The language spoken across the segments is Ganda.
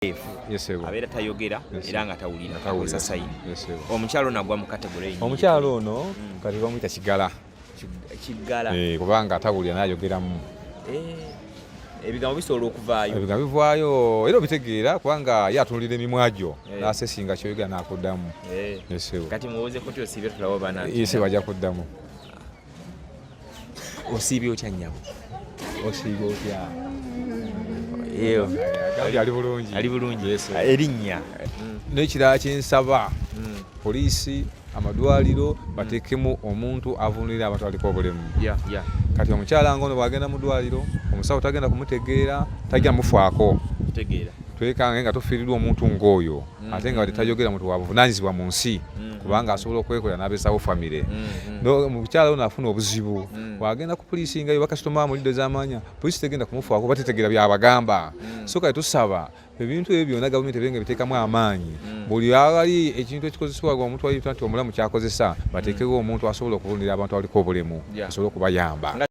mwetegefu abeera tayogera era nga tawulira akozesa sayini omukyalo ono agwa mu kategole omukyalo ono mm. kati bamuyita kigala kigala eh, kubanga atawulira nayogeramu eh, ebigambo bisobola okuvaayo ebigambo bivaayo era obitegeera kubanga ye atunulira emimwa gyo eh. nasesinga kyoyogera nakuddamu kati muwozeko tyosibe tulawo bana bajja kuddamu osiibye otya nnyabo osiibye otya ali bulungi erinnya mm. n'ekirala kyensaba mm. poliisi amadwaliro mm. bateekemu omuntu avunulira abantu aliko obulemu kati omukyala nga ono bwagenda mu dwaliro omusawo tagenda kumutegeera tajja mufaako twekange nga tufiirirwa omuntu ng'oyo ate nga tetayogera muntu wabuvunanyizibwa mu nsi mm-hmm. kubanga asobola okwekolera n'abesawo famire mm-hmm. mukyala ono afuna obuzibu mm. wagenda ku poliisi ngayo bakasitoma amulidde zamanya poliisi tegenda kumufaako batetegera byabagamba mm. so kale tusaba ebintu ebyo byona gavumenti ebenga ebiteekamu amaanyi mm. buli awali ekintu ekikozesebwa omuntu ayita nti omulamu kyakozesa bateekewo omuntu asobola okubulira abantu abaliko obulemu asobole okubayamba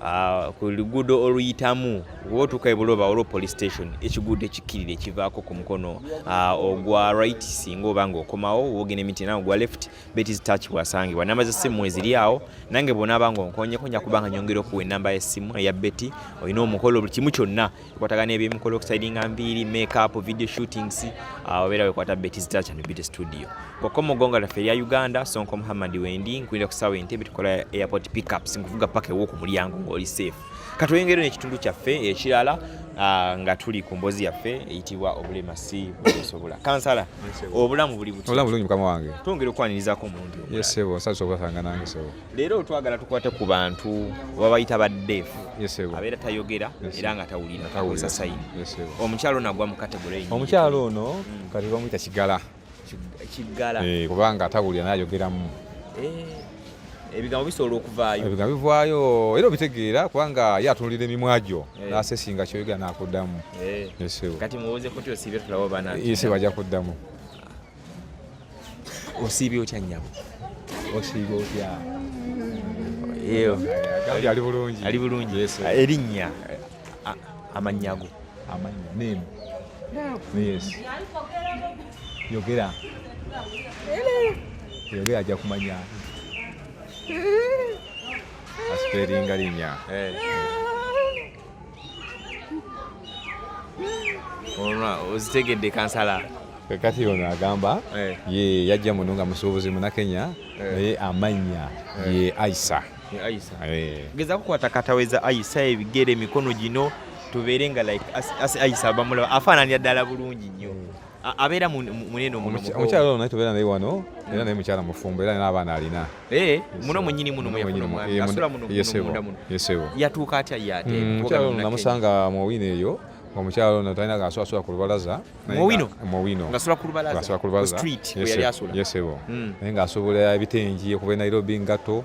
Ah, ku luguudo oluyitamu oba otuuka ebuloba olwo police station ekiguudo ekikkirira ekivaako ku mukono ah, ogwa right singa oba nga okomawo wogenda emiti nawe ogwa left betis touch wasangibwa namba zessimu eziri awo nange bonaaba nga onkonyeko nja kubanga nyongera okuwa enamba yessimu eya beti olina omukolo buli kimu kyonna tukwatagana ebyemukola okusaidinga nviiri makeup video shootings ah, obeera wekwata beti zitacha ne bete studio kwokka omugonga laffe erya uganda sonko muhammad wendi nkulira ku saawa entebe tukola airport pickups nkuvuga paka ew'oku mulyango ng'oli safe katweyongere n'ekitundu kyaffe ekirala ah, nga tuli ku mbozi yaffe eyitibwa obulema si busobola kansala obulamu buli butibulamu bulungi mukama wange twongere okwanirizako omulundi omulasebo nsabisa obasanga nange sebo leero twagala tukwate ku bantu babayita baddeefu abeera tayogera era nga tawulira akozesa sayini omukyalo ono agwa mu kategore omukyalo ono mm. kati bamuyita kigala kigala eh, kubanga atawulira nayogeramu eh, ebigambo bisobola okuvaayo ebigambo bivaayo era obitegeera kubanga ye atunulira emimwa gyo eh. nasesinga kyoyogera nakuddamu kati muwoozeko tyosiibye tulaba bana bajja kuddamu osiibye otya nnyabo osiibye otya ali bulungi ali bulungi erinnya amannya go amannya name yes yogera yogera ajja kumanya asipeeringa linnya eh. ozitegedde kansala kati ono agamba eh. ye yajja muno nga musuubuzi munakenya eh. naye amannya eh. ye aisa geza kukwata kataweza aisa ebigere emikono gino tubeere nga like aisa abamulaba afaananira ddala bulungi nnyo abeera munene omukyala ono naye tubeera naye wano era naye mukyala mufumbo era naye abaana alina Eh, muno mwenyini muno mweyafuna omwami asula muno munda muno yatuuka atya ye ate mm, namusanga mu owino eyo omukyalo ono talina gaswasula ku lubalaza muwinoasula ku lubalazaesebo mm. naye ng'asobola ebitengi okuva e nairobi ngatto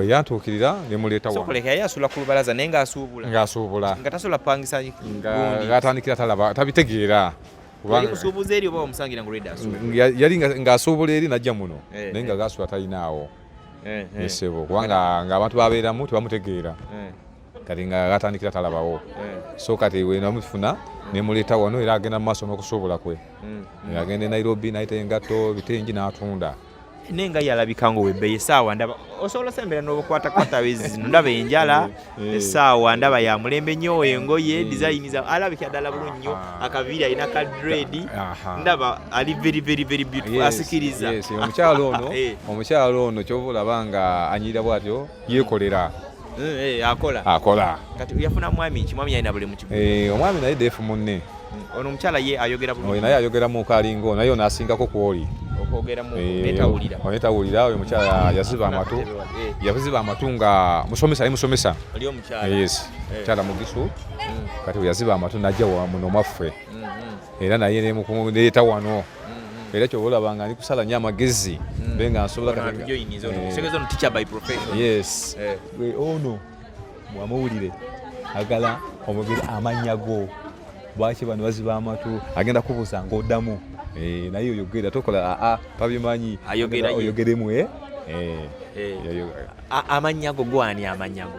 yantuukirira nemuleeta wanoyasula ku lubalaza naye ng'asuubula ng'asuubula nga tasobola pangisa ng'atandikira talaba tabitegeera yali ng'asuubula eri najja muno eh, naye nga eh. gasula talinaawo eh, esebo kubanga ng'abantu babeeramu tebamutegeera kati nga gatandikira talabawo so kati wenamufuna nemuleeta wano era agenda mu maaso n'okusuubula kwe mm, mm. agenda e nairobi naye te engatto bitengi n'atunda naye nga yalabika nga owebbeyi esaawa ndaba osobola osembera nobukwatakwata bezi zino ndaba enjala eh, eh. esaawa ndaba ya mulembe nyo engoye eh. dizayini za alabika ddala bulungi nyo ah. akaviiri alina ka dredi ndaba ali very very very beautiful asikiriza omukyalo ono omukyalo ono kyova olaba nga anyirira bwatyo yekolera mm, eh, akola akola kati yafuna mwami ki mwami yalina buli mukibu eh, omwami naye defu munne mm, ono omukyala ye ayogera bulungi naye ayogera mu kalingo naye ono asingako kwoli onetawulira oyo mukyala yaziba amatu yaziba amatu nga musomesa ye musomesa yes mukyala mugisu mm. kati yaziba amatu najja wamuno mwaffe era naye nemukuleeta wano mm-hmm. era kyoba olaba nga ndi kusala nyo amagezi mm. be nga nsobola yes eh. ono mwamuwulire agala omugeri amannya go lwaki bano baziba amatu agenda kubuuza ngaoddamu eh, naye oyogera tokola aa ah, ah, tabimanyi oyogeremu eh? amannya go gwani amannya go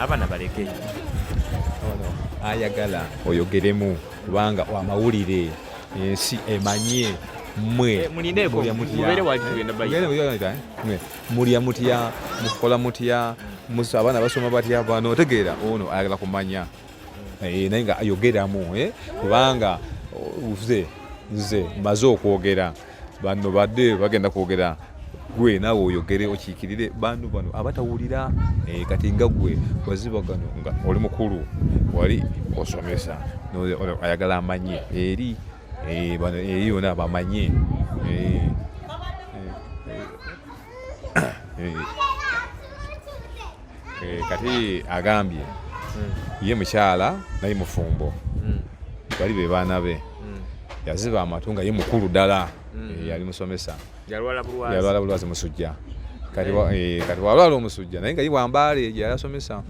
abana baleke ayagala oyogeremu kubanga amawulire ensi emanye mwe mulya mutya mukola mutya musa abaana basoma batya bano otegeera ono ayagala kumanya eh, naye nga ayogeramu eh, kubanga nze nze maze okwogera banno badde bagenda kwogera gwe naawe oyogere okiikirire bantu bano abatawulira eh, kati nga gwe waziba gano nga oli mukulu wali osomesa ayagala amanye eri eh, eri yona bamanye eh, eh, eh, kati agambye hmm. ye mukyala naye mufumbo hmm. bali be baana be hmm. yaziba amatu nga ye mukulu ddala eh, yali musomesa yalwala bulwazi musujja kati walwala omusujja naye nga ye wambaala eyo gyeyasomesa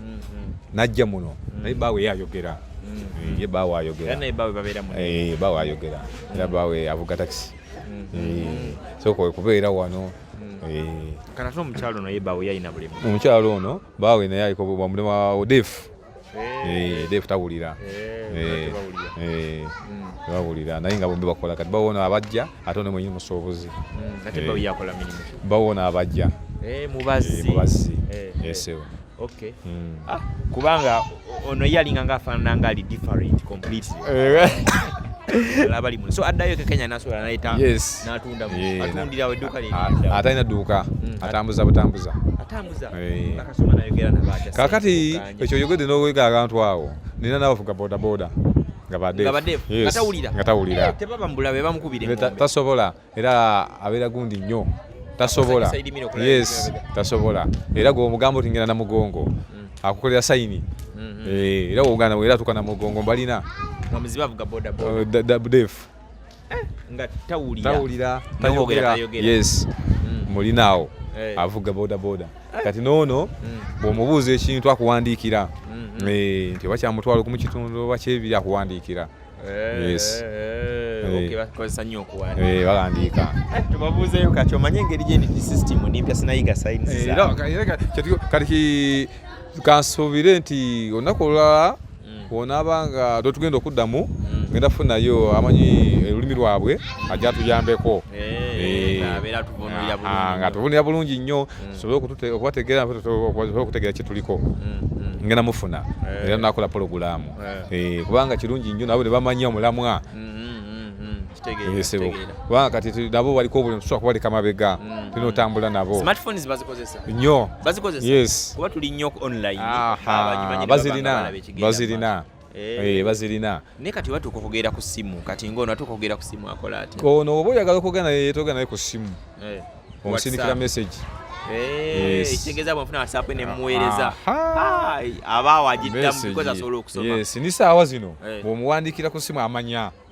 najja muno naye baawe yayogera ye baawe ayogera baawe ayogera era baawe avuga takisi Eh, sooka okubeera wano Eh, kana ate omukyalo naye baawe yalina bulemu omukyalo ono baawe naye aliko bamulema wa odefu Eh, odefu tawulira Eh, eh, tebawulira naye nga bombi bakola kati bawo ono abajja ate ono mwenyini musuubuzi ate Eh. bawe yakola mirimu bawo ono abajja Eh, Eh, mubazi mubazzi Eh, eh. esebo Okay. Mm. Ah, kubanga ono yalinga nga afanana nga ali different completely. Eh. Labali muno. So addayo ke Kenya nasobola naleta yes. natunda mu yeah, atundira we duka lye. Atalina duka, mm. atambuza butambuza. Atambuza. Eh. Bakasoma nayo gera na bacha. Kakati ekyo yogede no wega abantu awo. Nina nawo fuka boda boda. Nga badefu. Nga badefu. Yes. Ngatawulira. Ngatawulira. Eh, tebaba mbula be bamukubire. Tasobola. Ta era abeera gundi nnyo tasobola yes tasobola era gwe omugambo tingenda na mugongo mm. akukolera sayini mm-hmm. eh, era ogana era atuka na mugongo mbalina def eh, nga tawulira tayogera yes mm. mulinaawo eh. avuga bodaboda kati noono mm. bwomubuuza ekintu akuwandiikira mm-hmm. nti oba kyamutwalo kumu kitundu oba kyebiri akuwandiikira Eh, yes. Eh, eh, okay, bakozesa nnyo okuwanda eh, bawandiika tubabuuzeyo kati omanye engeri gyendi system nempya sinayiga sayinzikati kansuubire nti olunaku olulala mm. wonaaba nga totugenda okuddamu mm. ngenda funayo amanyi olulimi lwabwe ajja tuyambeko nga tuvunira bulungi nnyo mm. tusobole okubategeera okubategeera kyetuliko mm, mm. ngenda mufuna eh. era nakola pologulaamu eh. kubanga kirungi nnyo nabo ne bamanya omulamwa kubanga kati nabo baliko buli musobola kubaleka mabega mm. tulina otambula nabo nyo bazirina bazirina Eh. Eh, bazirina naye kati oba tukokogera ku simu kati ngaono atuka okugera ku simu akola ati ono oba oyagala okogera naye yetoga naye ku simu eh. omusindikira message ekitegeeza bwenfuna whatsapp nemuweereza abaawo agiddamuyes ni saawa zino bwomuwandiikira ku simu amanya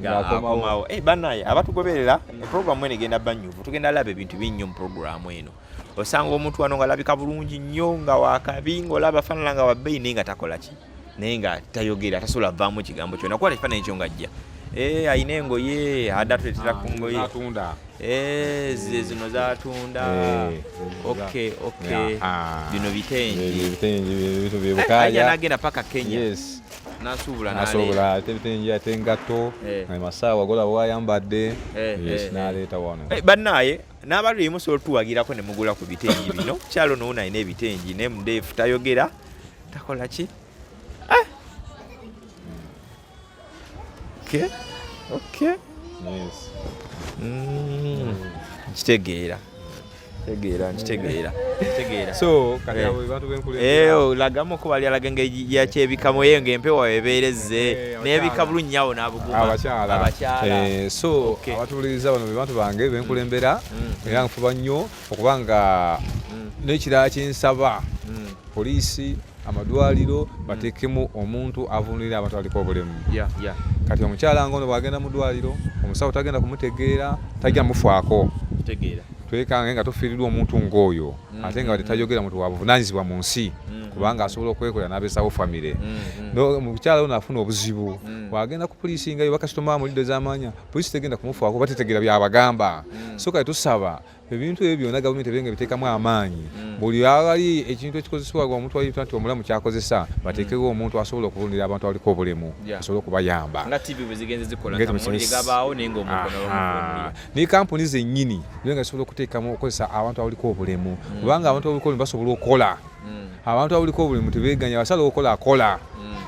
ngaakomawo eh, banaye abatugoberera eprogramu eno egenda banyuvu tugenda laba ebintu binnyo mu programu eno osanga omuntu wano ngaalabika bulungi nnyo nga wakabi ngaolaba afaanana nga wabbeyi naye nga takola ki naye nga tayogera tasobola vaamu kigambo kyona kuba tekifaananyi kyo ngajja eh, alina engoye ada tuletera ku ngoye eh, ze zino zatunda bino bitengi nagenda paka kenya nasuubula nasuubula ate bitengi ate engatto eh. amasaawa golaba wayambadde eh, yes eh, naleeta wano bannaye n'abaluli musobola otuwagirako ne mugula ku bitengi bino kyalo nowo nalina ebitengi ne mudeefu tayogera takola ki ah! okay okay yes mm. kitegeera tegeera nkitegeera tegeera so kati eh. abo bantu benkulembera eh, eyo oh, lagamu ko bali alaga engeri yakyebikamu eyo ng'empewo ebeerezze eh, n'ebika bulungi awo n'abuguma abakyala abakyala so abatuwuliriza bano be bantu bange benkulembera mm. Mm. era nfuba nnyo okuba nga mm. n'ekirala kyensaba poliisi amadwaliro mm. batekemu omuntu avunulira abantu aliko obulemu kati omukyala nga ono bwagenda mu dwaliro omusawo tagenda kumutegeera tajja mufaako twekange nga tufiirirwa omuntu ngaoyo mm. ate nga tetayogera muntu wabuvunanyizibwa mu nsi mm. kubanga asobola okwekolera n'abesawo famire omukyala ono afuna obuzibu bwagenda ku poliisi ngayo bakasitoma amulidde zamanya poliisi tegenda kumufaako batetegeera byabagamba so kati tusaba ebintu ebyo byonna gavumenti ebenga ebiteekamu amaanyi mm. buli awali ekintu ekikozesebwa omutwalita nti omulamu kyakozesa bateekewo mm. omuntu asobola okuvunira abantu abaliko obulemu asobole okubayamba ne kampuni zennyini nga zisobola okuteekamu okukozesa abantu abaliko obulemu mm. kubanga abantu abaliko obulemu basobola okukola abantu abaliko obulemu tebeganya basala okola akola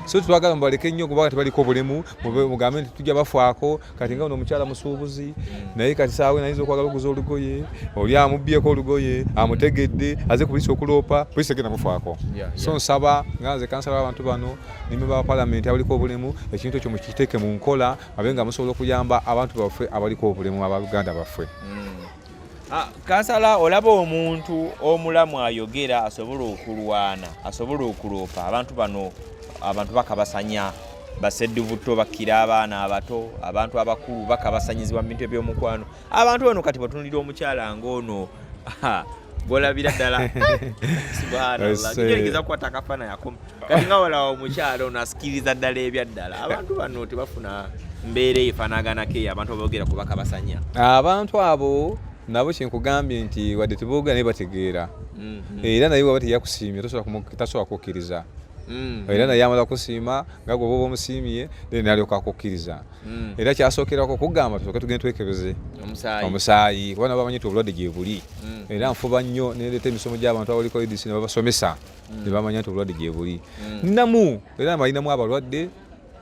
so twagala mubaleke nnyo kubanga tebaliko obulemu mugambe nti tujja bafaako kati nga ono omukyala musuubuzi hmm. naye kati saawa enayinza okwagala okuguza olugoye oli amubbyeko olugoye amutegedde aze ku poliisi okuloopa poliisi egenda mufaako so nsaba nga nze kansala w'abantu bano nime ba palamenti abaliko obulemu ekintu ekyo mukiteeke mu nkola abe nga musobola okuyamba abantu baffe abaliko obulemu aba uganda baffe hmm. Ah, kansala olaba omuntu omulamu ayogera asobola okulwana asobola okuloopa abantu bano abantu bakabasanya basedduvutto bakkira abaana abato abantu abakulu bakabasanyizibwa mu bintu ebyomukwano abantu bano kati batunulira omukyala ngaono golabira ddala subhanallah kigeregeza kukwata akafaananyi akoma kati nga walawo omukyalo nasikiriza ddala ebyaddala abantu bano tebafuna mbeera efanaganako eyo abantu abogera kuba kabasanya abantu abo nabo kyenkugambye nti wadde tebogera naye bategeera mhm. era naye waba teyakusiimye tasobola kukkiriza Mm. era naye amala kusiima nga gwe oba omusiimye then alyoka akukkiriza mm. era kyasookerako kugamba tusooke tugende twekebeze omusaayi kuba nabo bamanyi ti obulwadde gyebuli mm. era nfuba nnyo nereeta emisomo gy'abantu abaliko edisi ne babasomesa mm. nebamanya nti obulwadde gyebuli mm. namu era balinamu abalwadde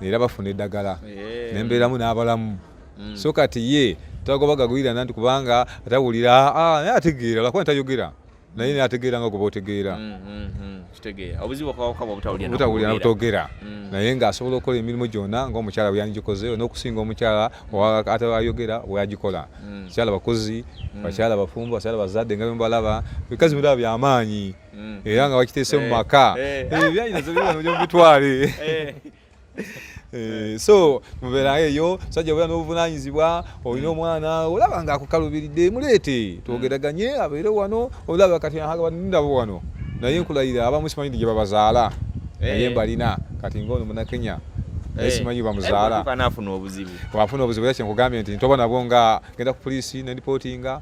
era bafuna eddagala yeah. nembeeramu n'abalamu mm. so kati ye tagobagagwira nanti kubanga atawulira ah, ah, naye ategeera lakuba ntayogera naye naye ategeera nga goba otegeera mm, mm, mm. obutawulira nabutogera naye ng'asobola okukola emirimu gyona ngaomukyala bweyanigikoze n'okusinga omukyala ayogera bweyagikola bakyala bakozi bakyala bafumbo bakyala bazadde nga bembalaba ebikazi biraba byamaanyi mm. era nga bakiteese mu eh. maka eh. Eh, ebyayinazo bibanoja mubitwale so mubeera eyo sajja obeera n'obuvunanyizibwa olina omwana olaba nga akukalubiridde muleete twogeraganye mm. abeere wano olaba kati nindabo wano naye nkulayira abamu simanyi ndi gye babazaala naye mbalina kati ngaono munakenya naye eh. simanyi bamuzaala eh, wafuna obuzibu era kyenkugambye nti ntoba nabwo nga genda ku poliisi nendipotinga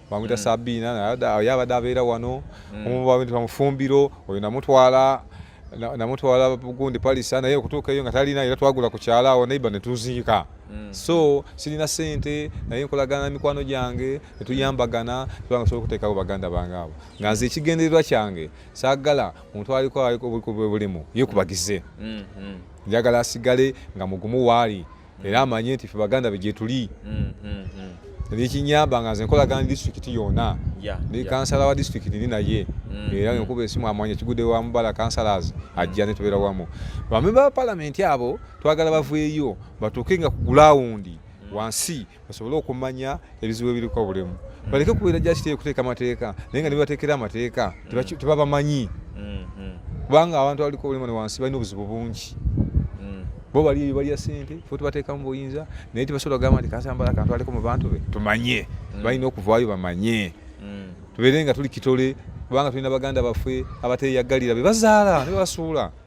bamwita mm. sabina naye abadde abeera wano mm. omu bamwita mufumbiro oyo namutwala namutwala gundi palisa naye okutuuka eyo nga talina era twagula ku kyala awo neiba netuziika mm. so sirina sente naye nkolagana mikwano gyange netuyambagana tubanga sobola okuteekawo baganda bange abo nga nze ekigendererwa kyange saagala muntu aliko bulimu yekubagize mm-hmm. njagala asigale nga mugumu waali era amanye nti fe baganda be gyetuli nekinyamba nga nze nkolagana disitulikiti yona ne kansala wa disitulikiti ndi naye mm. era nkuba esimu amwanya kigude wa mubala kansalas ajja netubeera wamu bamemba ba palamenti abo twagala baveeyo batuuke nga ku gulawundi mm. wansi basobole okumanya ebizibu ebiriko bulemu mm. baleke kubeera jakiteyo kuteeka amateeka naye nga nebateekera amateeka mm. tebabamanyi mm-hmm. kubanga abantu abaliko obulemu ne wansi balina obuzibu bungi mm. bo bali eyo balya sente fe tubateekamu buyinza naye tebasobola kugamba nti kansambala akantu aliko mu bantu be tumanye balina okuvaayo bamanye tubeere nga tuli kitole kubanga tulina baganda baffe abateyagalira bebazaala nebasuula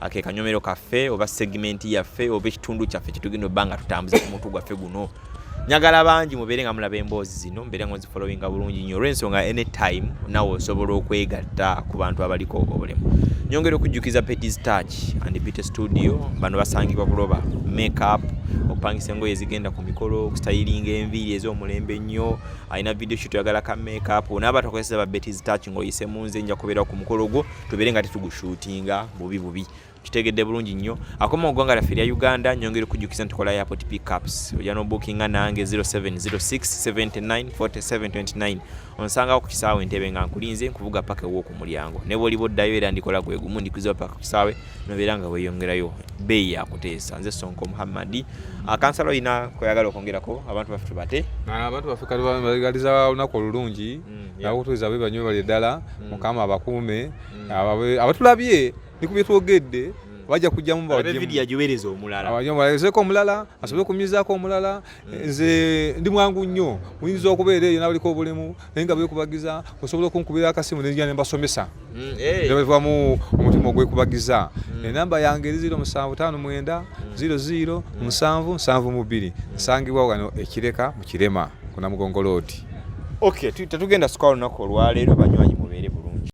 akekanyomero kaffe oba segimenti yaffe oba ekitundu kyaffe kyetugenda obba nga tutambuza ku mutu gwaffe guno njagala bangi mubeere nga mulaba emboozi zino mbeere nga nzifolowinga bulungi nyo olwensonga anytime nawe osobola okwegatta ku bantu abaliko obulemu nyongera okujjukiza petis touch and beauty studio bano basangibwa buloba makeup okupangisa engoye ezigenda ku mikolo okustayiringa enviiri ez'omulembe ennyo alina video shit oyagala ka makeup onaaba tokozesa ba betis touch ng'oyise mu nze nja kubeera ku mukolo gwo tubeere nga tetugushutinga bubi bubi kitegedde bulungi nnyo akoma ogwanga laffe erya uganda nyongera okujjukiza nti kola yapot pickups oja nobukinga nange 0706794729 onsangawo ku kisaawe entebe nga nkulinze nkuvuga paka ewoku mulyango ne bwoliba oddayo era ndikola gwe gumu ndikuziwa paka ku kisaawe nobeera nga weyongerayo beeyi yakuteesa nze sonko muhammadi akansala ah, olina kweyagala okwongerako abantu baffe tubate ah, abantu baffe kati bagaliza olunaku olulungi mm. nakutuuza bwe banyo bali ddala mm. mukama abakuume mm. abatulabye ni ku byetwogedde mm. bajja kujjamu bawagimuyajubereza omulala abayobalezeko omulala asobole okumyuzaako omulala nze ndi mwangu nnyo muyinza okubeera eyo nabaliko obulemu naye nga bekubagiza osobola okunkubira akasimu nenzija nembasomesa mm, eh. nebaviwamu omutima ogwekubagiza mm. enamba yange eri ziro musanvu tano mwenda mm. ziro ziro musanvu nsanvu mu bbiri nsangibwa wano ekireka mu kirema kuna mugongo loodi ok tetugenda sukwa olunaku olwaleero banywanyi mubeere bulungi